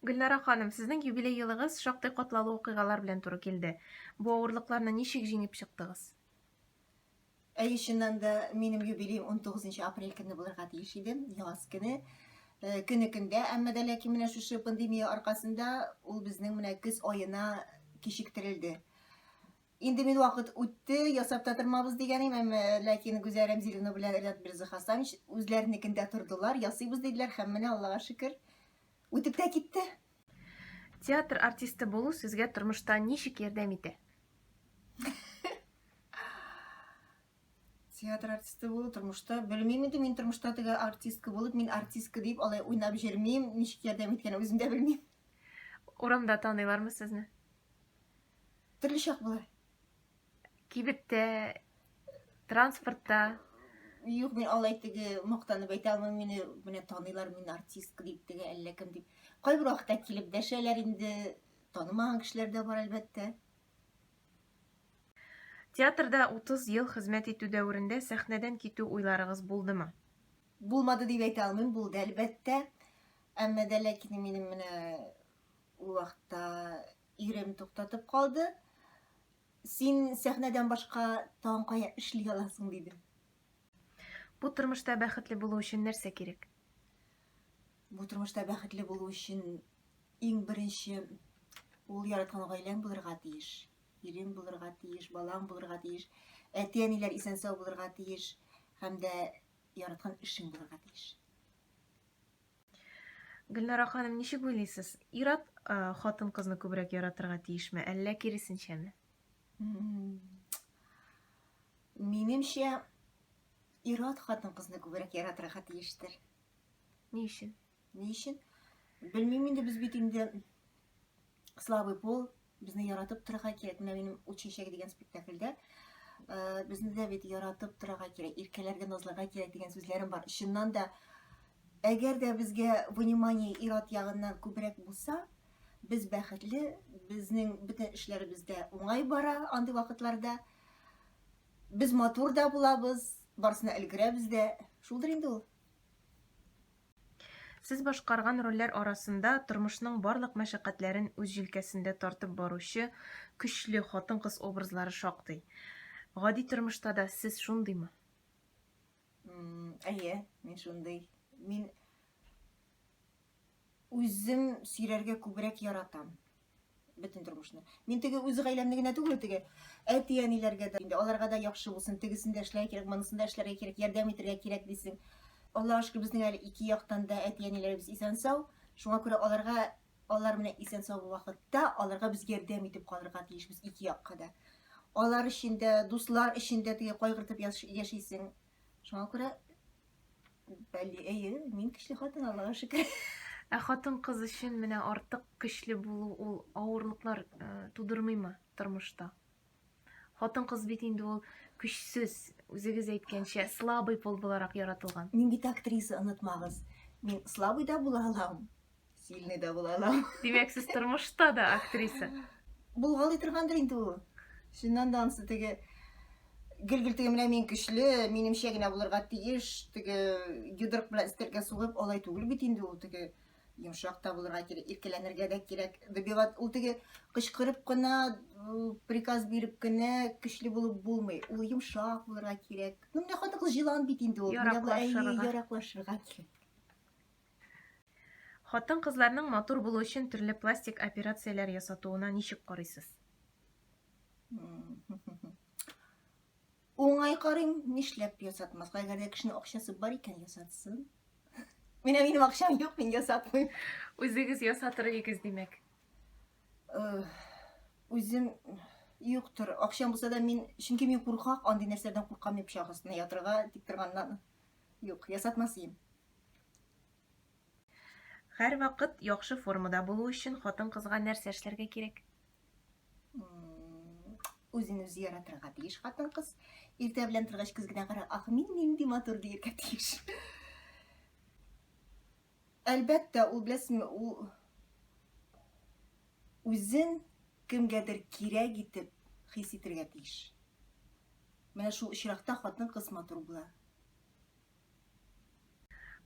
Гөлнара ханым, сезнең юбилей елыгыз шактый катлаулы вакыйгалар белән туры килде. Бу авырлыкларны ничек җиңеп чыктыгыз? Әйе, чыннан да, минем юбилеем 19 апрель көне булырга тиеш иде, яз көне. Э, көне көндә, әмма дә ләкин менә шушы пандемия аркасында ул безнең менә көз аена кичектерелде. Инде мин вакыт үтте, ясап та тормабыз дигән идем, ләкин Гүзәл Рәмзиловна белән Ренат Берзахасанович үзләренекендә тордылар, ясыйбыз диделәр һәм менә Аллага шөкер, үтеп тә китте. Театр артисты булу сезгә тормышта ничек ярдәм итә? театр артисты булу тормышта белмим инде мин тормышта теге артистка булып мин артистка дип алай уйнап җөрмим ничек ярдәм иткәнен үзем дә белмим урамда таныйлармы сезне Төрле чак була. Кибеттә, транспортта. Юк, мин алай теге мактанып әйтә алмыйм, мине менә таныйлар, мин артистка дип теге әллә кем дип. Кайбер вакытта килеп дәшәләр инде, танымаган кешеләр дә бар әлбәттә. Театрда 30 ел хезмәт итү дәверендә сәхнәдән китү уйларыгыз булдымы? Булмады дип әйтә алмыйм, булды әлбәттә. Әмма дә ләкин минем менә ул вакытта Ирем туктатып калды. Син сәхнәдән башка тагын кая эшли аласың, диде. Бу тормышта бәхетле булу өчен нәрсә кирәк? Бу тормышта бәхетле булу өчен иң беренче ул яраткан гаиләң булырга тиеш. Ирең булырга тиеш, балаң булырга тиеш, әти-әниләр исән-сау булырга тиеш һәм дә яраткан эшең булырга тиеш. Гөлнара ханым, ничек уйлыйсыз, ир-ат хатын-кызны күбрәк яратырга тиешме, әллә киресенчәме? Минемчә, ир-ат хатын-кызны күбрәк яратырга тиештер. Ни өчен? Ни өчен? Белмим инде, без бит инде слабый пол, Безне яратып торырга кирәк. Менә минем ут чәчәге дигән спектакльдә безне дә бит яратып торырга кирәк, иркәләргә, назларга кирәк дигән сүзләрем бар. Чыннан да, әгәр дә безгә внимание ират ягыннан күбрәк булса, без бәхетле, безнең бөтен эшләребез дә уңай бара андый вакытларда. Без матур да булабыз, барысына өлгерәбез дә. Шулдыр инде ул. Сез башкарган рольләр арасында тормышның барлык мәшәкатьләрен үз җилкәсендә тартып баручы көчле хатын-кыз образлары шактый. Гади тормышта да сез шундыймы? Әйе, мин шундый. Мин үзем сөйләргә күбрәк яратам. бөтен тормышны. Мин теге үз гаиләмне генә түгел, теге әти-әниләргә дә, инде аларга да яхшы булсын, тегесен дә эшләргә кирәк, монысын да эшләргә кирәк, ярдәм итәргә кирәк дисең. Аллаһ шөкер, безнең әле ике яктан да әти-әниләребез исән-сау. Шуңа күрә аларга алар менә исән-сау вакытта аларга без ярдәм итеп калырга тиешбез ике якка да. Алар өчен дә, дуслар өчен дә теге кайгыртып яшисең. Шуңа күрә Бәли, әйе, мин көчле хатын, Аллага шөкер. Ә хатын-кыз өчен менә артык көчле булу ул авырлыклар э, тудырмыймы тормышта? Хатын-кыз бит инде ул көчсез, үзегез әйткәнчә, слабый пол буларак яратылган. Мин бит актриса, онытмагыз. Мин слабый да була алам, Сильный да була алам. Димәк, сез тормышта да актриса. Булгалый торгандыр инде ул. Шуннан да ансы теге гел-гел теге менә мин көчле, минемчә генә булырга тиеш, теге йодрык белән өстәлгә сугып алай түгел бит инде ул теге йомшак та булырга кирәк, иркәләнергә дә кирәк. Добиват ул теге кычкырып кына, приказ биреп кенә көчле булып булмый. Ул йомшак булырга кирәк. Ну менә хатын-кыз җылан бит инде ул. Яраклашырга кирәк. Хатын-кызларның матур булу өчен төрле пластик операцияләр ясатуына ничек карыйсыз? Уңай карыйм, нишләп ясатмаска, әгәр дә кешенең акчасы бар икән, ясатсын. Менә минем акчам юк, мин ясатмыйм. Үзегез ясатыр идегез, димәк. Үзем юктыр. Акчам булса да мин, чөнки мин куркак, андый нәрсәдән куркам, мин пычак астына ятырга тик торганнан. Юк, ясатмас идем. Һәрвакыт яхшы формада булу өчен хатын-кызга нәрсә эшләргә кирәк? Үзен үзе яратырга тиеш хатын-кыз. Иртә белән торгач күз генә кара, ах, мин нинди матур диергә тиеш. Әлбәттә, ул беләсезме, ул үзен кемгәдер кирәк итеп хис итергә тиеш. Менә шул очракта хатын-кыз матур була.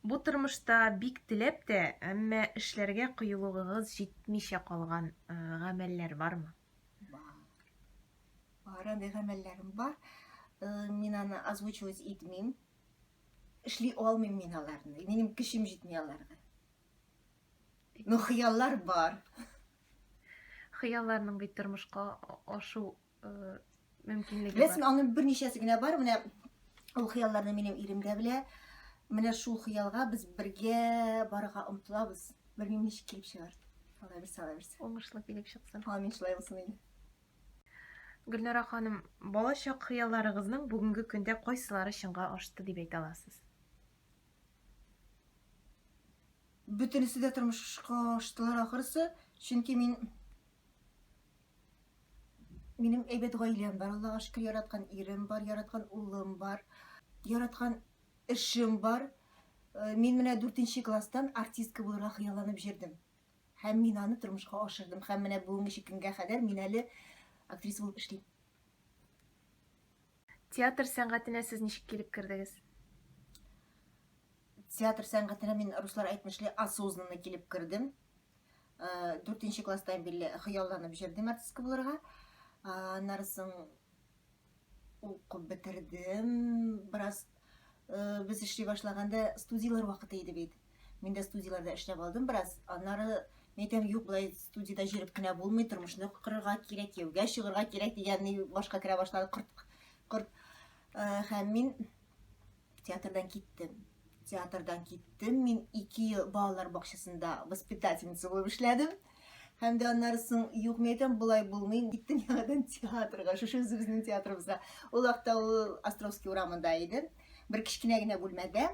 Бу тормышта бик теләп тә, әмма эшләргә кыюлыгыгыз җитмичә калган гамәлләр бармы? Бар. Бар, андый гамәлләрем бар. Мин аны озвучивать итмим. Эшли алмыйм мин аларны. Минем көчем җитми аларга. Ну, хыяллар бар. Хыялларның бит тормышка ашу мөмкинлеге бар. Ләкин аның берничәсе генә бар. Менә ул хыялларны минем ирем дә белә. Менә шул хыялга без бергә барырга омтылабыз. Белмим ничек килеп чыгар. Алла бирсә, Алла бирсә. Уңышлы килеп чыксын. Амин, шулай булсын инде. Гөлнара ханым, балачак хыялларыгызның бүгенге көндә кайсылары чынга ашты дип әйтә аласыз? Бөтенесе дә тормышка аштылар ахырсы, чөнки мин Минем әйбәт гаиләм бар, Аллага шөкер, яраткан ирем бар, яраткан улым бар, яраткан эшем бар. Э, мин менә 4 класстан артистка булырга хыялланып җөрдем. Һәм мин аны тормышка ашырдым. Һәм менә бүгенге көнгә кадәр мин әле актриса булып эшлим. Театр сәнгатенә сез ничек килеп кердегез? Театр сәнгатенә мин руслар әйтмешли осознанно килеп кердем. Дүртенче класстан бирле хыялланып җырдыйм артистка булырга. Аннары соң укып бетердем. Бераз без эшли башлаганда студияләр вакыты иде бит. Мин дә студияләрдә эшләп алдым бераз. Аннары мин әйтәм, юк, болай студиядә җырып кенә булмый, тормышны корырга кирәк, кияүгә чыгарга кирәк дигән башка керә башлады корт. Һәм мин Театрдан киттем. Театрдан киттем. Мин ике ел балалар бакчасында воспитательница булып эшләдем. Һәм дә аннары соң юк мәйтәм, болай булмый. Киттем яңадан театрга, шушы үзебезнең театрыбызга. Ул вакытта ул Островский урамында иде. Бер кечкенә генә бүлмәдә.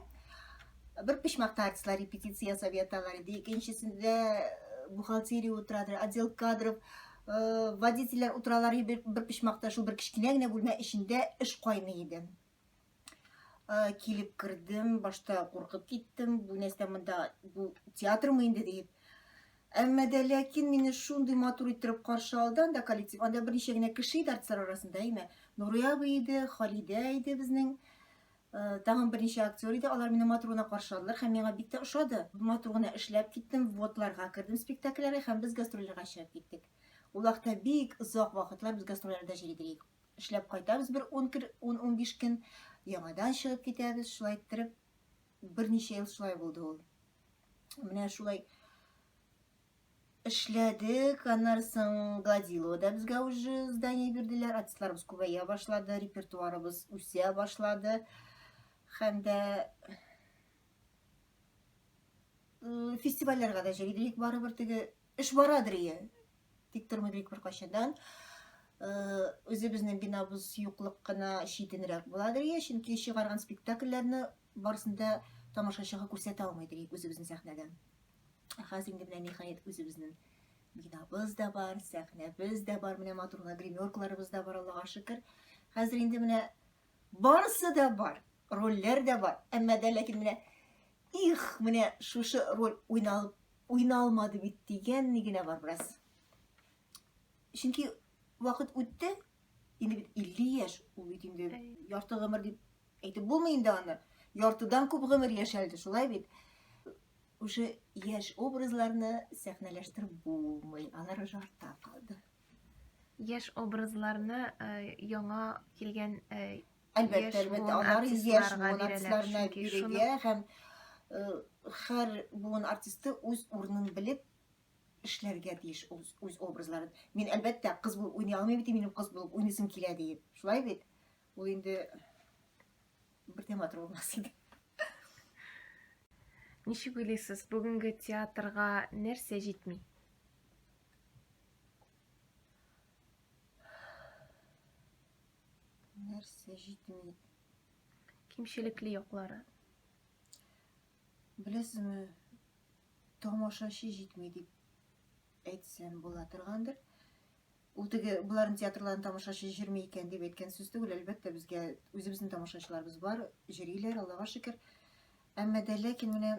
Бер почмакта артистлар репетиция ясап яталар иде. Икенчесендә э, бухгалтерия утырадыр, отдел кадров, э, водительләр утыралар иде бер почмакта, шул бер кечкенә генә бүлмә эчендә эш кайный иде. килеп кердем башта куркып киттем бу нәрсә монда бу театрмы инде дип әмма дә ләкин мине шундый матур иттереп каршы алды анда коллектив анда берничә генә кеше иде артистлар арасында әйме нурия абый иде халидә иде безнең тагын берничә актер иде алар мине матур гына каршы алдылар һәм миңа бик тә ошады матур гына эшләп киттем вводларга кердем спектакльләргә һәм без гастрольләргә чыгып киттек ул вакытта бик озак вакытлар без гастрольләрдә йөри идек Эшләп кайтабыз бер ун кер, ун-унбиш көн, яңадан чыгып китәбез, шулай иттереп, берничә ел шулай булды ул. Менә шулай эшләдек, аннары соң Гладилода безгә уже здание бирделәр, артистларыбыз күбәя башлады, репертуарыбыз үсә башлады һәм дә фестивальләргә дә җыйдык барыбер теге эш барадыр ие Тик тормый бик беркайчаннан. Үзебезнең бинабыз юклык кына читенрәк була дрия, чөнки чыгарган спектакльләрне барысын да тамашачыга күрсәтә алмый дрик үзебезнең сәхнәдән. Ә хәзер инде менә ниһаять үзебезнең бинабыз да бар, сәхнәбез дә бар, менә матур гына гримеркаларыбыз да бар, Аллага шөкер. Хәзер инде менә Барысы да бар, рольләр дә бар, әмма дә ләкин менә их, менә шушы роль уйналып уйналмады бит дигәнне генә бар бераз. Чөнки вакыт үтте, инде бит 50 яшь, ул бит инде ярты гомер дип әйтеп булмый инде аны. Яртыдан күп гомер яшәлде, шулай бит. Уже яшь образларны сәхнәләштереп булмый, алар уже артта калды. Яшь образларны яңа килгән Әлбәттә, әлбәттә, алар яшь буын артистларына бирегә һәм хәр буын артисты үз урынын белеп эшләргә тиеш үз, үз образларын. Мин әлбәттә кыз булып уйный алмыйм бит, минем кыз булып уйныйсым килә диеп. Шулай бит? Ул инде бер дә матур булмас иде. Ничек уйлыйсыз, бүгенге театрга нәрсә җитми? Нәрсә җитми? Кимчелекле яклары. Беләсезме, тамашачы җитми дип әйтсәм була торгандыр. Ул теге боларын театрларын тамашачы җирми икән дип әйткән сүз түгел, әлбәттә, безгә үзебезнең тамашачыларыбыз бар, җириләр, Аллага шөкер. Әмма дә ләкин менә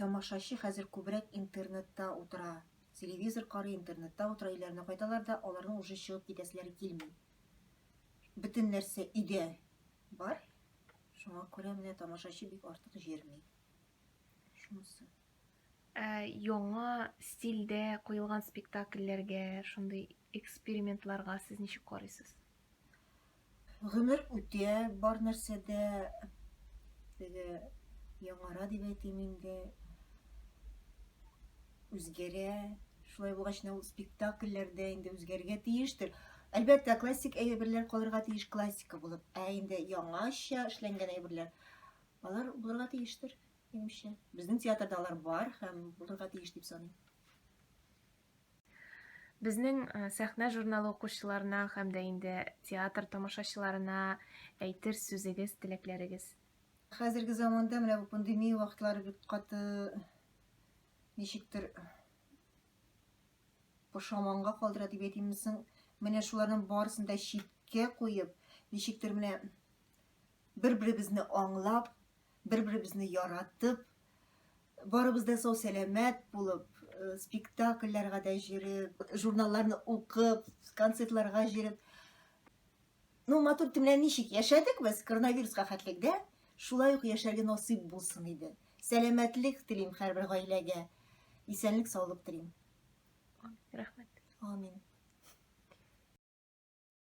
тамашачы хәзер күбрәк интернетта утыра. Телевизор карый, интернетта утыра, өйләренә кайталар да, аларның уже чыгып китәселәре килми. Бөтен нәрсә өйдә бар. Шуңа күрә менә тамашачы бик артык җирми. Шунысы. Ә, яңа стильдә куелган спектакльләргә, шундый экспериментларга сез ничек карыйсыз? Гомер үтә бар нәрсәдә, теге яңара дип әйтим инде, үзгәрә. Шулай булгач, менә ул спектакльләр дә инде үзгәрергә тиештер. Әлбәттә, классик әйберләр калырга тиеш классика булып, ә инде яңача эшләнгән әйберләр, алар булырга тиештер. Димичә. Безнең театрда алар бар һәм булырга тиеш дип саныйм. Безнең сәхнә журналы укучыларына һәм дә инде театр тамашачыларына әйтер сүзегез, теләкләрегез? Хәзерге заманда менә бу пандемия вакытлары бик каты ничектер пошаманга калдыра дип әйтимме соң, менә шуларның барысын да читкә куеп, ничектер менә Бер-беребезне аңлап, бер-беребезне яратып, барыбыз да сау-сәламәт булып, спектакльләргә дә җөреп, журналларны укып, концертларга җөреп, ну, матур төннәр ничек яшәдек без коронавируска хәтлек дә, шулай ук яшәргә насыйп булсын иде. Сәламәтлек телим һәрбер гаиләгә, исәнлек-саулык телим. Рәхмәт. Амин.